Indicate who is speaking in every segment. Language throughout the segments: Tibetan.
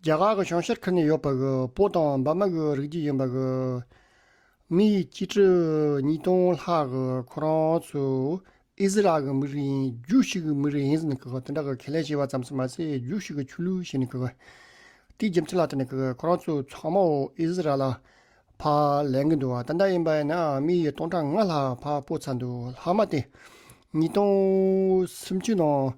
Speaker 1: རྒྱ་གར་གྱི་བྱང་ཤར་ཁུལ་ནས་ཡོད་པའི་པོ་དང་འབར་མ་གྱི་རིགས་བརྒྱུད་ཡིན་པའི་མི་ཡི་གཅིག་ཁྲི་གཉིས་སྟོང་ལྷག་ཁོ་རང་ཚོ་ཨི་ཟི་རལ་གྱི་མི་རིགས་ཡིན་རྒྱུགས་ཤིག་གི་མི་རིགས་ཡིན་ཟེར་ནས་དེ་འདྲ་གི་ཁས་ལེན་བྱས་པ་ཙམ་ཞིག་མ་ཟད་རྒྱུགས་ཤིག་གི་ཆོས་ལུགས་ཞེས་ནས་ཏིག་རྒྱབ་མཐིལ་ལ་བསྟན་ནས་ཁོ་རང་ཚོ་ཚང་མ་ཨི་ཟི་རལ་ལ་ཕར་ལེན་གྱི་འདུག་ད་འདྲ་ཡིན་པ་ཡིན་ན་མི་ཡི་སྟོང་ཕྲག་ལྔ་ལྷག་ཕར་སྤོ་ཚར་འདུག་ལྷག་མ་སྟེ་ཉིས་སྟོང་སུམ་ཅུ་ནང་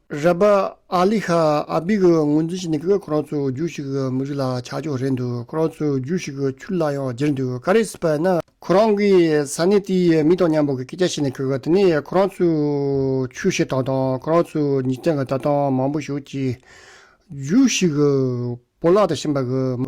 Speaker 1: ར་པ་ཨ་ལི་ཧ་ཨ་བི་གིས་ངོས་འཛིན་བྱས་ནས་ཁོ་རང་ཚོའི་རྒྱུད་ཞིག་གི་མི་རིགས་ལ་ཆ་འཇོག་རན་འདུག་ཁོ་རང་ཚོའི་རྒྱུད་ཞིག་གི་ཆུ་ལ་ཡང་བསྒྱིར་འདུག་ག་རེ་སྲིད་པ་ན། ཁོ་རང་གིས་ས་གནས་དེའི་མི་དང་མཉམ་པོ་གི་སྐད་ཆ་བཤད་ནས་ཁོས་དེ་ནས་ཁོ་རང་ཚོའི་ཆུ་བཤེར་སྟངས་དང་ཁོ་རང་ཚོའི་ཉིས་སྟེང་གི་བལྟ་སྟངས་མང་པོ་ཞིག་བྱས། རྒྱུད་ཞིག་གི་བོར་བརླག་དང་ཤིང་པ་གི།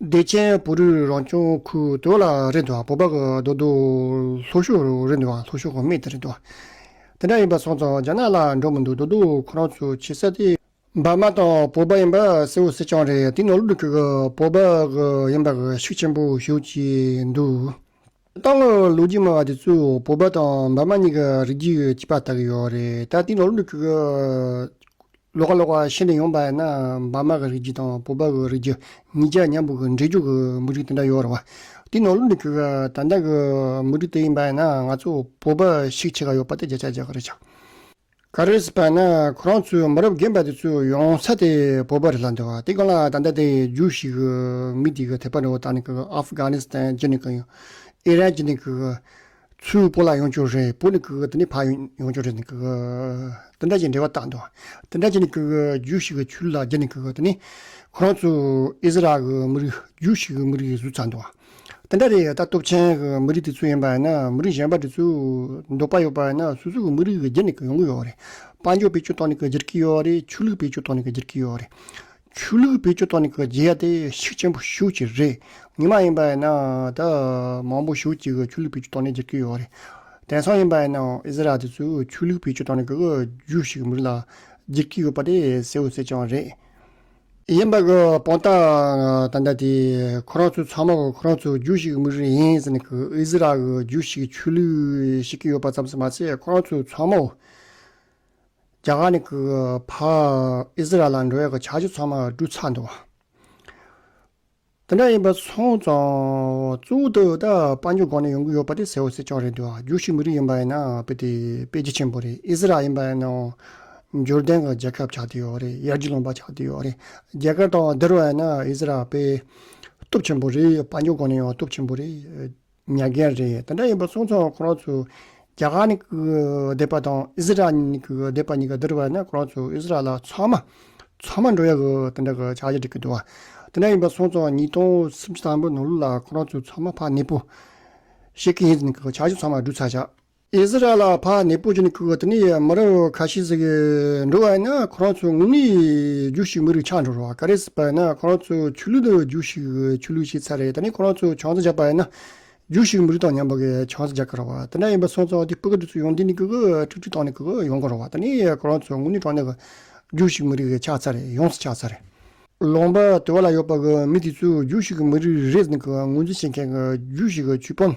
Speaker 1: བདེ་ཆེན་བུ་རུའི་རང་བྱུང་ཁུལ་དུ་ལ་རེ་འདུག་བུ་ཕག་རྡོ་རྡོ་ལྷོ་ཤོག་རུ་རེ་འདུག་ལྷོ་ཤོག་མེད་དེ་རེ་འདུག་དེ་འདྲ་ཡིན་པ་སོང་ཙང་རྒྱ་ནག་ལ་འགྲོ་མི་འདུག་རྡོ་རྡོ་ཁོ་རང་ཚོ་ཆེ་ས་དེ། འབར་མ་དང་བོད་པ་ཡིན་པ་གསལ་བོ་གསལ་རྐྱང་རེད་དེ་ནོར་ལུག་གི་བོད་པ་ཡིན་པ་ཤུགས་ཆེན་པོ་ཞུ་བྱས་འདུག་ཏང་གི་ལོ་རྒྱུས་སྨྲ་བ་དེ་ཚོས་བོད་པ་དང་འབར་མ་གཉིས་ཀྱི་རིགས་རྒྱུད་ཡོད་ཅེས་པ་ལྟ་གི་ཡོད་རེད་ད་དེའི་ནང་ལུགས་ཀྱི་ལོ་ཀ་ལོ་ཀ་ཤེས་འདོད་ཡོང་པ་ཡིན་ན་འབར་མ་གི་རིགས་རྒྱུད་དང་བོད་པ་གི་རིགས་རྒྱུད་གཉིས་ཀྱི་མཉམ་འབུལ་གྱི་འབྲེལ་འཇུག་གི་མུ་ཏིག་དེ་འདྲ་ཡོད་རེད་བ། དེའི་ནང་ལུགས་ཀྱི་ད་ལྟ་གི་མུ་ཏིག་དེ་ཡིན་པ་ཡིན་ན་ང་ཚོ་བོད་པ་ཞིག་བྱེད་ཀྱི་ཡོད་པ་དེ་རྒྱ་ཆ་རྒྱག་གི་རེད་ཆགས། ག་རེ་ཟེར་བ་ན་ཁོ་རང་ཚོའི་མི་རབས་རྒན་པ་དེ་ཚོས་ཡོང་ས་དེ་བོད་པ་རེད་ལ་འདི་བ་དེ་གང་ལ་ད་ལྟ་དེ་རྒྱུགས་ཤིག་གི་མི་དེ་གི་ཐེག་པ་འདྲ་བོ་དག་ནི་གི Afghanistan གྱི་ནི་གི་ཨི་རན་གྱི་ནི་གི་ཚོའི་བོད་ལ་ཡོང་ཆོག་རེད་བོད་ནི་གི་དེ་ནི་ཕ་ཡོང་ཆོག་རེད་ནི་གི་དེ་འདྲ་གྱི་འབྲེལ་བ་དག་འདི་བ་དེ་འདྲ་གྱི་ནི་གི་རྒྱུགས་ཤིག་གི་ཆུ་ལ་གྱི་ནི་གི་དེ་ནི་ཁོ་རང་ཚོའི་ཨི་ཟི་རལ་གི་མི་རིགས་རྒྱུགས་ཤིག་གི་མི་རིགས་གཟུགས་ཚ་འདི་བ། དེ་འདྲ་རེད་ད་སྟོབས་ཆེན་གྱི་མི་རིགས་དེ་ཚོ་ཡིན་པ་ཡིན་ན་མི་རིགས་གཞན་པ་དེ་ཚོ་འདོད་པ་ཡོད་པ་ཡིན་ན་སོ་སོ་གི་མི་རིགས་གི་རྒྱུ་ནས་ཡོང་གི་ཡོད་རེད་དཔལ་འབྱོར་བེད་སྤྱོད་ཐོག་ནས་བརྗེ་གི་ཡོད་རེད་ཆོས་ལུགས་བེད་སྤྱོད་ཐོག་ནས་བརྗེ་གི་ཡོད་རེད་ཆོས་ལུགས་བེད་སྤྱོད་ཐོག་ནས་བརྗེ་ཡ་དེ་ཤུགས་ཆེན་པོ་ཞུགས་ཀྱི་རེད་ཉི་མ་ཡིན་པ་ཡིན་ན་ད་མང་པོ་ཞུགས་ཀྱི་ཆོས་ལུགས་བེད་སྤྱོད་ཐོག་ནས་བརྗེ་གི་ཡོད་རེད་དེང་སང་ཡིན་པ་ཡིན་ན་ཨི་ཟི་རལ་དེ་ཚོ་ཆོས་ལུགས་བེད་སྤྱོད་ཐོག་ནས་གི་རྒྱུ་ཞིག་མི་རིགས་ལ་བརྗེ་གི་ཡོད་པ་དེ་གསལ་བོ་གསལ་རྐྱང་རེད། ཡིན་པ་གི་དཔང་རྟགས་ད་ལྟ་དེ་ཁོ་རང་ཚོའི་ཚང་མ་གི་ཁོ་རང་ཚོའི་རྒྱུ་ཞིག་མིག་རིང་ཡིན་ཟེར་ནས་གི་ཨི་ཟི་རལ་གི་རྒྱུ་ཞིག་ཆོས་ལུགས་བཤིག་གི་ཡོད་པ་ཙམ་ཟེར་མ་ཟད་ཁོ་རང་ཚོའི་ཚང་མ་རྒྱ་གར་ནས་གི་བར་ཨི་ཟི་རལ་ལ་འགྲོ་བའི་གི་བྱ་སྤྱོད་ཚང་མ་བཀྲུས་ཚར་འདུག། དེ་འདྲ་ཡིན་པ་སོང་ཙང། གཙོ་བོ་དེ་འོད་དཔག་མེད་གོང་ནས་ཡོང་གི་ཡོད་པ་དེ་ཟེར་བ་སྲིད་སྐྱོང་རེད་འདུག་ཨ་རྒྱུག་ཤིག་མི་རིགས་ཡིན་པ་ཡིན་ན་དཔེ་དེ་དཔེ་རྒྱ་ཆེན་པོ་རེད་ཨི་ཟི་རལ་ཡིན་པ་ཡིན་ནའོ། འབྱོར་ལྡན་གྱི་རྒྱལ་ཁབ་ཆགས་ཀྱི་ཡོད་རེད་ཡར་རྒྱུག་ལོངས་པ་ཆགས་ཀྱི་ཡོད་རེད་རྒྱ་གར་དང་འདིར་བ་ཡིན་ན་ཨི་ཟི་རལ་དཔེ། སྟོབས་ཆེན་པོ་རེད་དཔའ་མྱུག་གོང་ནས་ཡོང་བ་སྟོབས་ཆེན་པོ་རེད། ཉག་རྒན་རེད་དེ་འདྲ་ཡིན་པ་གསུངས་སོང་ཁོ་རང་ཚོ་རྒྱ་གར་ནས་བསྡད་པ་དང་ཨི་ཟི་རལ་ནས་བསྡད་པ་གཉིས་ཀ་འདིར་བས་ན་ཁོ་རང་ཚོ་ཨི་ཟི་རལ་ལ་ཚང་མ་ཚང་མ་འགྲོ་ཡག་དེ་འདྲ་གི་ཆགས་ཀྱི་འགྲིག་གི་འདུག་དེ་འདྲ་ཡིན་པ་གསུངས་སོང་ཉིས་སྟོང་སུམ་ཅུ་དང་པོ་ནང་ལོ་ལ་ཁོ་རང་ཚོ་ཚང་མ་ཕ་ནད་པོ་ཤེས་ཀྱི་ཡིན་ཟིན་གྱི་ཆགས་ཀྱི་ཚང་མ་བསྡུ་ཚར་ཆགས། ཨིསི་རཱཨེལ་ལ་ཕ་ནེ་པུ་ཇི་ནི་ཁུའོ་ཏི་ནི་ཡི་མི་རབས་ཁ་ཤས་ཟིག་འགྲོ་བ་ཡིན་ན་ཁོ་རང་ཚོའི་ངུ་ངུའི་རྒྱུ་ཞིག་མི་རིགས་ཆགས་འགྲོ་རོགས་ག་རེ་ཟིག་པ་ཡིན་ན་ཁོ་རང་ཚོའི་ཆོས་ལུགས་དང་རྒྱུ་ཞིག་ཆོས་ལུགས་ཤེས་ཚར་རེད་ད་ནི་ཁོ་རང་ཚོའི་ཆང་ས་རྒྱག་པ་ཡིན་ན་རྒྱུ་ཞིག་མི་རིགས་དང་མཉམ་པ་གི་ཆང་ས་རྒྱག་གི་རོགས་དེ་འདྲ་ཡིན་པ་སོང་ཙང་དེ་སྤུ་ག་དུས་ཚོད་ཡོང་དུས་ནི་གུ་གུ་ཁྲིག་ཁྲིག་བཏང་ནས་གུ་གུ་ཡོང་གི་རོགས་ད་ནི་ཁོ་རང་ཚོའི་ངུ་ནི་གྲང་ནས་གི་རྒྱུ་ཞིག་མི་རིགས་ཆགས་ཚར་རེད་ཡོངས་སུ་ཆགས་ཚར་རེད། ལོང་པ་དུ་བ་ལ་ཡོད་པ་གི་མི་དེ་ཚོའི་རྒྱུ་ཞིག་མི་རིགས་རེད་ཟིན་གི་ངོས་འཛིན་བྱེད་མཁན་གི་རྒྱུ་ཞིག་ཆུ་ཕམ།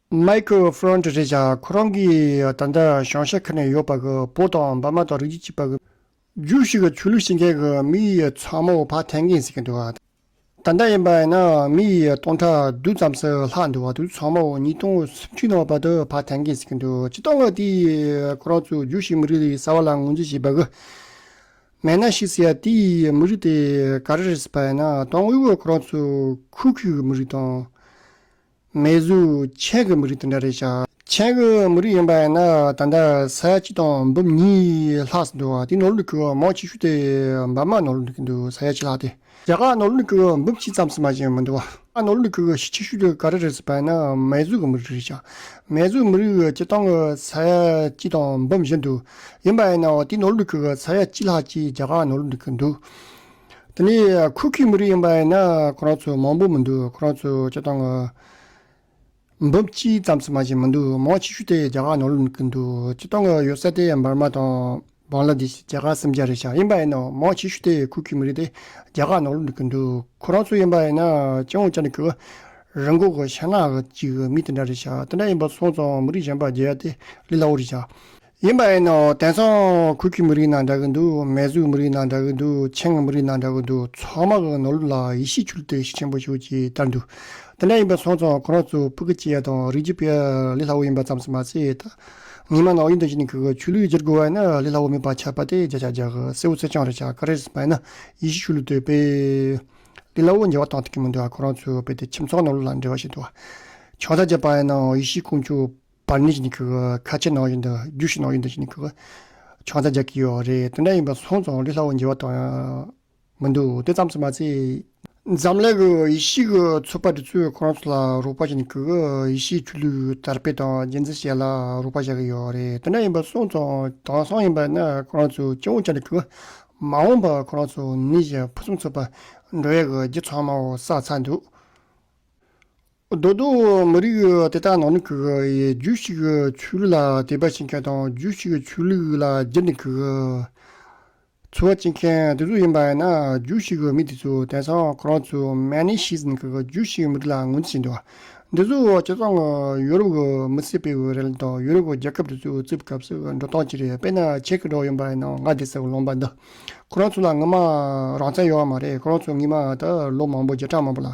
Speaker 1: མཱི་ཁེལ་ཧྥི་རོན་ཏེ་ཞེས་བྱ་ཁོ་རང་གིས་ད་ལྟ་ཞང་ཞེ་ཁ་ནས་ཡོད་པ་གི་བོད་དང་འབར་མ་དང་རིགས་གཅིག་པ་གི། རྒྱུགས་ཤིག་གི་ཆོས་ལུགས་ཤེས་མཁན་གི་མི་ཡི་ཚང་མ་བོ་ཕ་ཐན་གིན་ཟེར་གྱི་འདུག་ག། ད་ལྟ་ཡིན་པ་ཡིན་ན་མི་ཡི་སྟོང་ཕྲག་བདུན་ཙམ་ཟིག་ལྷག་འདུག་ག་དུས་ཚང་མ་བོ་ཉིས་སྟོང་སུམ་ཅུ་ནང་བར་དུ་ཕ་ཐན་གིན་ཟེར་གྱི་འདུག་གཅིག་དང་གི་དེ་ཡི་ཁོ་རང་ཚོའི་རྒྱུགས་ཤིག་མི་རིགས་ལས་གསར་བ་ལ་ངོས་འཛིན་བྱེད་པ་གི། མེད་ན་ཤི་ཟེར་དེ་ཡི་མི་རིགས་དེ་ག་རེ་རེད་ཟེར་པ་ཡིན་ན་དང་དབུས་བོད་ཁོ་རང་ཚོའི་ཁུལ་གི་མི་རིགས་དང། མེ་གཟུགས་ཆས་ཀྱི་མི་རིགས་དེ་འདྲ་རེད་ཤག། ཆས་ཀྱི་མི་རིགས་ཡིན་པ་ཡིན་ན་ད་ལྟ་ས་ཡ་གཅིག་དང་འབུམ་གཉིས་ལྷག་སུ་འདུག་དེ་ནོར་ལུག་གི་མང་ཆེ་ཤོས་དེ་འབར་མ་ནོར་ལུག་གི་འདུག་ས་ཡ་གཅིག་ལྷག་དེ། རྒྱ་གར་ནོར་ལུག་གི་འབུམ་གཅིག་ཙམ་སུ་མ་ཞིག་མི་འདུག་ཨ། ནོར་ལུག་གི་གཞི་ཆེ་ཤོས་དེ་ག་རེ་རེད་ཟེར་པ་ཡིན་ན་མེ་གཟུགས་ཀྱི་མི་རིགས་རེད་ཤག། མེ་གཟུགས་མི་རིགས་སྤྱི་བཏང་གི་ས་ཡ་གཅིག་དང་འབུམ་བཞི་འདུག་ཡིན་པ་ཡིན་ན་དེ་ནོར་ལུག་གི་ས་ཡ་གཅིག་ལྷག་ཅིག་རྒྱ་གར་ནོར་ལུག་གི་འདུག། དེ་ནི་ཁུ་ཁུའི་མི་རིགས་ཡིན་པ་ཡིན་ན་ཁོ་རང་ཚོ་མང་པོ་མི་འདུག་ཁོ་རང་ཚོ་སྤྱི་བཏང་གི་འབུམ་གཅིག་ཙམ་ཚང་མ་ཞིག་མི་འདུག་མང་ཆེ་ཤོས་དེ་རྒྱ་གར་ནང་ལུས་ཀྱི་འདུག་སྤྱི་བཏང་གི་ཡོད་ས་དེ་འབར་མ་དང་བང་ལ་དེ་རྒྱ་གར་སེམས་རྒྱ་རེད་ཤག་ཡིན་པ་ཡིན་ན་མང་ཆེ་ཤོས་དེ་ཁུ་ཁུའི་མི་རིགས་དེ་རྒྱ་གར་ནང་ལུས་ཀྱི་འདུག་ཁོ་རང་ཚོ་ཡིན་པ་ཡིན་ན་སྤྱི་བོང་བཅག་ནས་ཁུ་རི་འགོག་གི་ཤ་ནག་གི་ཅིག་མི་དེ་འདྲ་རེད་ཤག་དེ་འདྲ་ཡིན་པ་སོང་ཙང་མི་རིགས་གཞན་པ་རྒྱལ་ཡ་དེ་ལས་སླ་བོ་རེད་ཤག། ཡིན་པ་ཨེ་ནོ། དེང་སང་གུར་གྱི་མི་རིགས་ནང་འདྲ་གི་འདུག་མེ་གཟུགས་མི་རིགས་ནང་འདྲ་གི་འདུག་ཆེན་ང་མི་རིགས་ནང་འདྲ་གི་འདུག་ཚང་མ་གི་ནོར་ལུག་ལ་ཡིད་ཤེས་འཁྱུར་ཏེ་ཤི་ཆེན་པོ་ཞུགས་ཀྱི་ལྟར་འདུག་དེ་འདྲ་ཡིན་པ་སོང་ཙང་ཁོ་རང་ཚོ་སྤུ་གི་སྐྱེ་དང་རིགས་ཀྱི་དཔེ་ལི་ལྷ་བོ་ཡིན་པ་ཙམ་ཟེར་མ་ཟད་ད་ངེད་མ་ནག་གཡུ་མདོ་ཞིག་ནས་གི་གི་ཆུ་ལུད་འཇལ་དགོས་བ་ཡིན་ན་ལི་ལྷ་བོ་མིད་པ་ཆགས་པ་དེ་འཇལ་ཆགས་འཇལ་གི་སེ་བོ་སེ་ཆང་རེ་ཆགས་གི་རེད་ཟེར་མ་ཡིན་ན་ཡིད་ཤེས་འཁྱུར་ལུག་དེ་དཔེ་ལི་ལྷ་བོ་འཇལ་བ་དང་ཐུག་གི་མི་འདུག་ཁོ་རང་ཚོའི་དཔེ་དེ་ཁྱིམ་ཚང་ནོར་ལུག་ལ་འབྲེལ་བ་ཞིག་འདུག་བ། ཆང་ས་བརྗེད་པ་ཡིན་ན་ཡིད་ཤེས་སྐུ་འཁྱུར། པར་ནི་ཁ་ཆེ་ནང་བཞིན་དུ་རྒྱུགས་ཤིག་ནང་བཞིན་དུ་ཤིག་ནི་ཆང་ཚ་རྒྱག་གི་ཡོད་རེད་དེ་འདྲ་ཡིན་པ་སོང་ཙང་ལུས་སླ་བོ་འགྱེལ་བ་དང་མི་འདུག་དེ་ཙམ་སུ་མ་ཚད། འཛམ་གླིང་གི་ཡེ་ཤེས་ཀྱི་ཚོགས་པ་འདི་ཚོས་ཁོ་རང་ཚོ་ལ་རོགས་པ་བྱེད་ནས་ཡེ་ཤེས་ཆོས་ལུགས་དར་སྤེལ་དང་རྒྱལ་མཚན་བྱེད་ལ་རོགས་པ་བྱ་གི་ཡོད་རེད་དེ་འདྲ་ཡིན་པ་སོང་ཙང་དེང་སང་ཡིན་པ་ན་ཁོ་རང་ཚོས་སྐྱེ་བོ་བྱ་ནས་མ་འོངས་པར་ཁོ་རང་ཚོ་ནི་ཕུན་སུམ་ཚོགས་པ་འགྲོ་ཡས་ཀྱི་རྗེ་ཚང་མའོ་བསགས་ཚར་འདུག། རྡོ་རྡོ་མི་རིགས་དེ་དག་ནང་ནས་ཁུག་རྒྱུ་ཞིག་ཆུ་ལུད་ལ་དད་པ་བྱེད་མཁན་དང་རྒྱུ་ཞིག་ཆུ་ལུད་ལ་བརྗེ་ནས་ཁུག་འཚོ་བ་བྱེད་མཁན་དེ་ཚོ་ཡིན་པ་ཡིན་ན་རྒྱུ་ཞིག་མི་དེ་ཚོ་དེང་སང་ཁོ་རང་ཚོ་མན་ནེ་ཤིས་ནས་ཁུག་རྒྱུ་ཞིག་མི་རིགས་ལ་ངོ་འཛིན་བྱེད་འདུག་འདི་ཚོ་བྱས་ཙང་ཡོ་རོབ་ཀྱི་མི་སེར་སྤེལ་བའི་རེད་དང་ཡོ་རོབ་ཀྱི་རྒྱལ་ཁབ་དེ་ཚོ་བཙུགས་སྐབས་སུ་འགྲོ་སྟངས་ཅི་རེད་དཔེར་ན་ཆེ་གེ་མདོག་ཡིན་པ་ཡིན་ན་ང་དེ་སར་ལོངས་པ་འདི་ཁོ་རང་ཚོ་ལ་ངོ་མ་རང་བཙན་ཡོད་མ་རེད་ཁོ་རང་ཚོ་ངེད་མ་ད་ལོ་མང་པོ་བརྒྱ་ཕྲག་མང་པོ་ལ་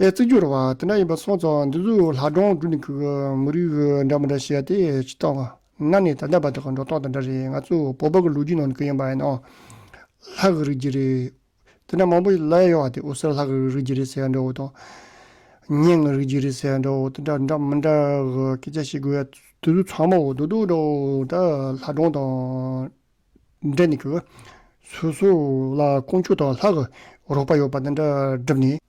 Speaker 1: ཨའི་བརྩི་རྒྱུར་བ་དེ་འདྲ་ཡིན་པ་སོང་ཙང་འདི་ཚོས་ལྷ་སྒྲུང་བསྒྲུབ་ནས་ཁུག་མི་རིགས་འདྲ་མི་འདྲ་བཤད་དེ་ཇི་ལྟ་བ་ན་ནི་ད་ལྟ་བར་དུ་འགྲོ་སྟངས་དེ་འདྲ་རེད་ང་ཚོ་བོད་པ་གི་ལོ་རྒྱུས་ནང་དུ་གི་ཡིན་པ་ཡིན་ནའང་ལྷ་གི་རིགས་ཀྱི་རེད། དེ་འདྲ་མང་པོ་ཞིག་ལབ་ཡོང་བ་དེ་འོད་གསལ་ལྷ་གི་རིགས་ཀྱི་རེད་ཟེར་འདྲ་བོ་དང། གཉེན་གི་རིགས་ཀྱི་རེད་ཟེར་འདྲ་བོ་དེ་འདྲ་འདྲ་མི་འདྲ་གི་སྐད་ཆ་བཤད་དགོས་ཡ་དེ་ཚོ་ཚང་མ་འོ་དོད་དོད་འདྲ་བོ་ད་ལྷ་སྒྲུང་དང་འབྲེལ་ནས་ཁུག། སོ་སོ་ལ་དཀོན་མཆོག་དང་ལྷ་གི་རོགས་པ་ཡོད་པ་དེ་འདྲ་བསྒྲུབ་ནས།